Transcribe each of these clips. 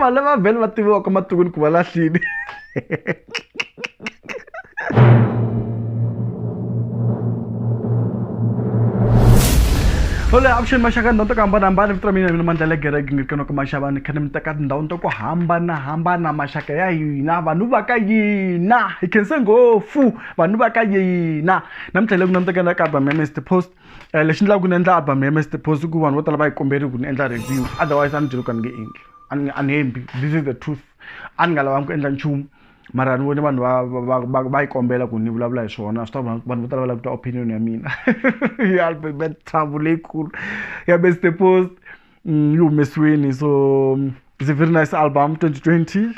vanhu lava vhele va tiviwaka matikweni ku va lahlile Hole avuxeni maxaka ndhawu to ku hambanahambana vito ra mina mina mandla legereke nge kena ku maxava ni kha ni mi teka tindhawini to ku hambanahambana maxaka ya hina vanhu va ka yina hi khense ngopfu vanhu va ka yina namuntlha le ku na mi tekela ka album ya mr post um lexi ndlaku ni endla album ya mr post ku vanhu vo tala va yi komberi ku ni endla review otherwise a ni byeli ku a ni nge endli a ni hembi this is the truth a ni nga lavangi ku endla nchumu mara ni vone vanhu va va va va yi kombela ku ni vulavula hi swona swi ta vanhu vo tala va lava ku twa opinion ya mina ya albert trouble leyikulu ya best post yi humesiwini so it's a very nice album 2020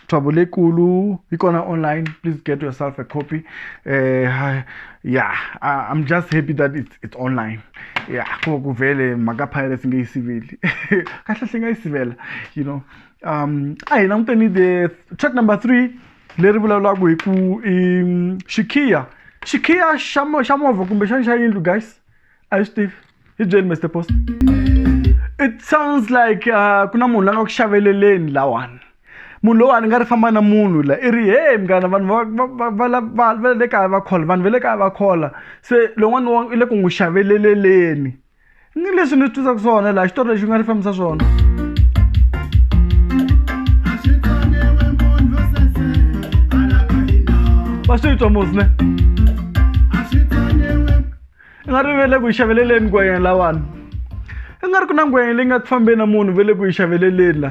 trouble leyikulu yi kona online please get yourself a copy uh, yeah I, i'm just happy that it's, it's online yeah ko ku vele mhaka pirates nge yi siveli kahle hle nga yi sivela you know um a hi languteni the track number three leri vulavulaka hi ku i xikhiya xikhiya xa xa movha kumbexana xa yindlu guys a yi swi tivi hi byeli mr post it sounds like uh, ku na munhu la nga ku xaveleleni lawani munhu lowani nga ri famba na munhu la i ri hey mngana vanhu va le kaya va khola vanhu va le kaya va khola se lowani i le ku n'wi xaveleleleni ni leswi ni twisaka swona laha xitori lexi nga ni fambisa swona va swi twa musi ne i nga ri vele ku yi xaveleleni ku yena lawani i nga ri ku na ngwenya leyi nga ku fambeni na munhu vele ku yi xaveleleni la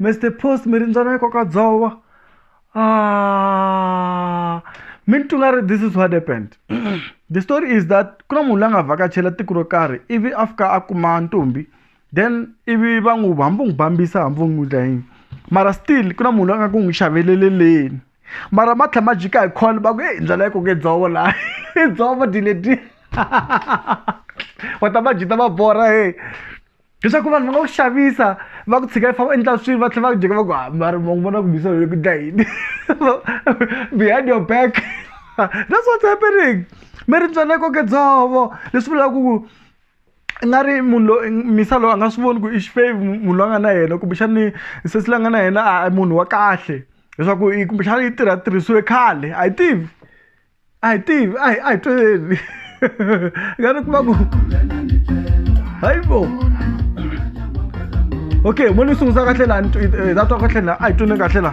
Mr Post mi rindzana yi koka dzovo ah, mi ni twi nga ri this is what happened the story is that ku na munhu la nga vhakachela tiko ro karhi ivi a fika a kuma ntombi then ivi va n'wi hambi u n'wi bambisa hambi u n'wi dla yini mara still ku na munhu la nga ku n'wi xaveleleleni mara ma tlhela ma jika hi call va ku e ndlela yi koke dzovo laha i dzovo dileti wa ta va jita va borha he leswaku vanhu va nga ku xavisa va ku tshika i famba endla swilo va tlhela va ku jeka va ku hambari ma vona ku bisa loko dla yini behind your back that's what's happening mi ri ntswale koke dzovo leswi vulaka ku i nga ri munhu loyi misa loyi a nga swi voni ku i xifevi munhu loyi a nga na yena kumbexani sesi la nga na yena a munhu wa kahle leswaku kumbexana yi tirha tirhisiwe khale a yi tivi a hi tivi a hi a hi tweleni nga ni kuma ku hayi bo okay mo ni sungula kahle la eh, ta twa kahle la a hi twini kahle la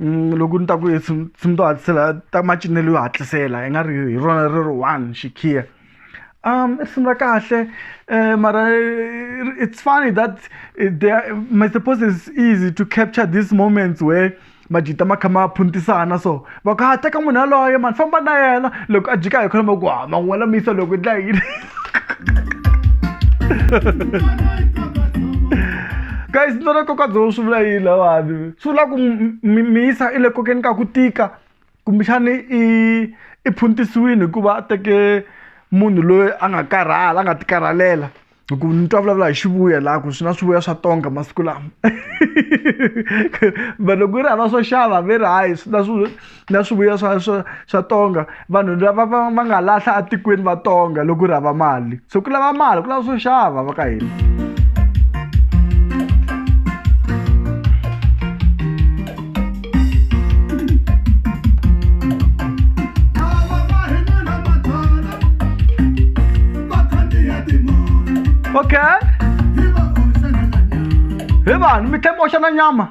loko ni ta ku hi swilo swi to hatlisela ta macinelo yo hatlisela hi nga ri hi rona ri ri one xikhiya i risimu ra kahle mara it's funny that they are my suppose is easy to capture this moments where majita ma kha ma phuntisana so va ku ha teka munhu yaloye mani famba na yena loko a jika hi kholomo ku ha man'wela mi yisa loko yi dlayiwile. guys ni twana kokadzoho swi vula yini lawani swi vula ku misa i le kokeni ka ku tika kumbexani i i phuntisiwini hikuva a teke munhu loyi a nga karhala a nga tikarhalela hi ku ni twa vulavula hi xivuya laha ku swi na swivuya swa tonga masiku lama but loko yi ri hava swo xava ve ri hayi swi na swi na swivuya swa swa swa tonga vanhu lava va va nga lahla etikweni va tonga loko ri hava mali so ku lava mali ku lava swo xava va ka hina okay hi vanhu mi tlhe mi oxa na nyama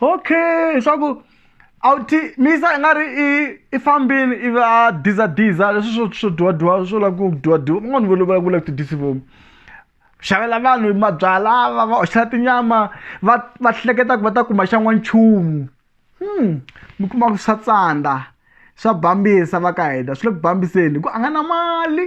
okay swa ku a wu ti misa i nga ri i i fambini ivi a dizadiza leswi swo swo dyiwadyiwa swo lava ku dyiwadyiwa van'wani va lova ku lava ti disivomu xavela vanhu mabyala va va hoxela tinyama va va hleketa ku va ta kuma xa n'wanchumu hmm mi kuma ku swa tsandza swa bambisa va ka hina swi le ku bambiseni hi ku a nga na mali.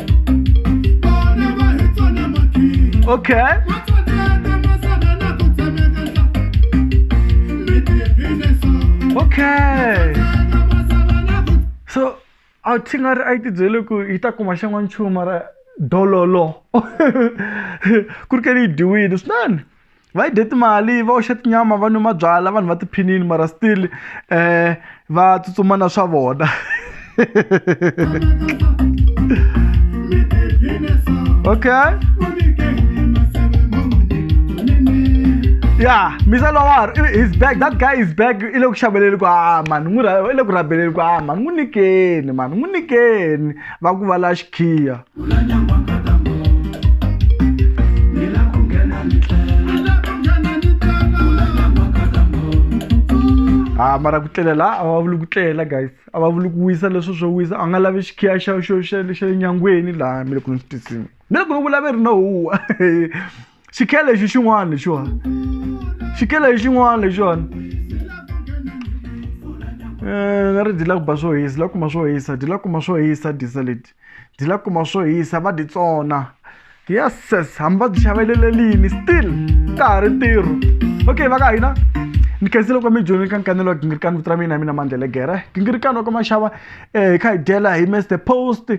okay okay so a thi nga ri a yi tibyele ku yi ta kuma xan'wa nchumu mara dololo ku ri ke ni yi dyiwile swinene va yi dye timali va oxa tinyama va nwa mabyala vanhu va tiphinini mara still um va tsutsuma na swa vona okay ya misa lowar his bag that guy is bag i le ku xaveleni ku a mani n'wi i le ku rabeleni ku a mani n'wi nyikeni mani n'wi nyikeni va ku va la xikhiya ha ah, mara ku tlelela a va vuli ku tlela guys a va vuli ku wisa leswo swo wisa a nga lavi xikhiya xa xo xa le nyangweni laha mi le ku ni swi tisini mi le ku ni vulaveri no huwa xikhele lexi xin'wana lexiwani xikhele lexi xin'wana lexiwani eh, na ri dyi la ku ba swo hisa la kuma swo hisa dyi la kuma swo hisa disa leti dyi la kuma swo hisa va dyi tsona yeses hambi va byi xavelelelini still ka ha ri ntirho okay va ka hina ni khensile kwa mijoni ka nkanelo wa gingirikani vito ra mina mina mandlele gere gingirikani wa ka maxava um hi kha hi dyela hi mester post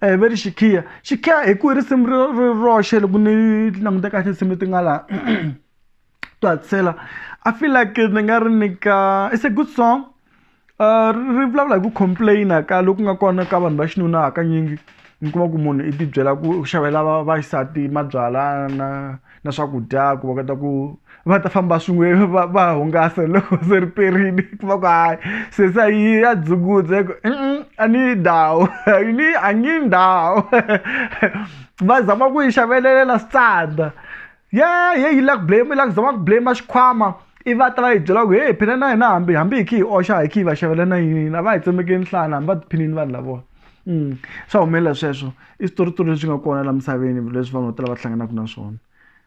a hi ve ri xikhiya xikhiya hi ku i risimu ri ri roxe loko ni languta kahle tinsimu leti nga laha to hatisela i feel like ni nga ri nyika it's a good song ri vulavula hi ku complain-a ka loku nga kona ka vanhu va xinuna hakanyingi mi kuma ku munhu i tibyela ku u xavela va vaxisati mabyalwa na. na swakudya ku va kota ku va ta famba swin'we va va hungasa loko se ri perini ku va ku hayi se se yi ya dzungudza ku a ni yi ndhawu ni a nge yi ndhawu va zama ku yi xavelelela switsandza ye ye yi la ku blame yi la ku zama ku blame xikhwama i va ta va yi byela ku heyi phela na hina hambi hambi hi kha hi oxa hi kha hi va xavela na yini a va hi tsemekeli nhlana hambi va tiphinini vanhu lavona. swa humelela sweswo i switoritori leswi nga kona la misaveni leswi vanhu vo tala va hlanganaka na swona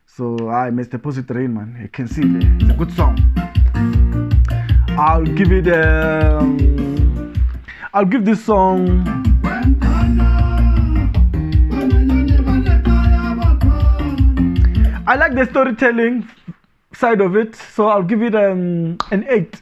so hayi mr posit rain man i can see there it's a good song i'll give it um, i'll give this song I like the storytelling side of it, so I'll give it um, an 8.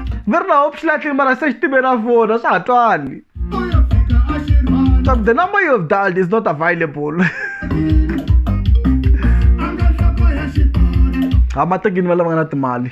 ni ri laha u swi lahlile mara se xitimbe ra vona swa ha twani the number you have dialed is not available ha matekini va lava nga na timali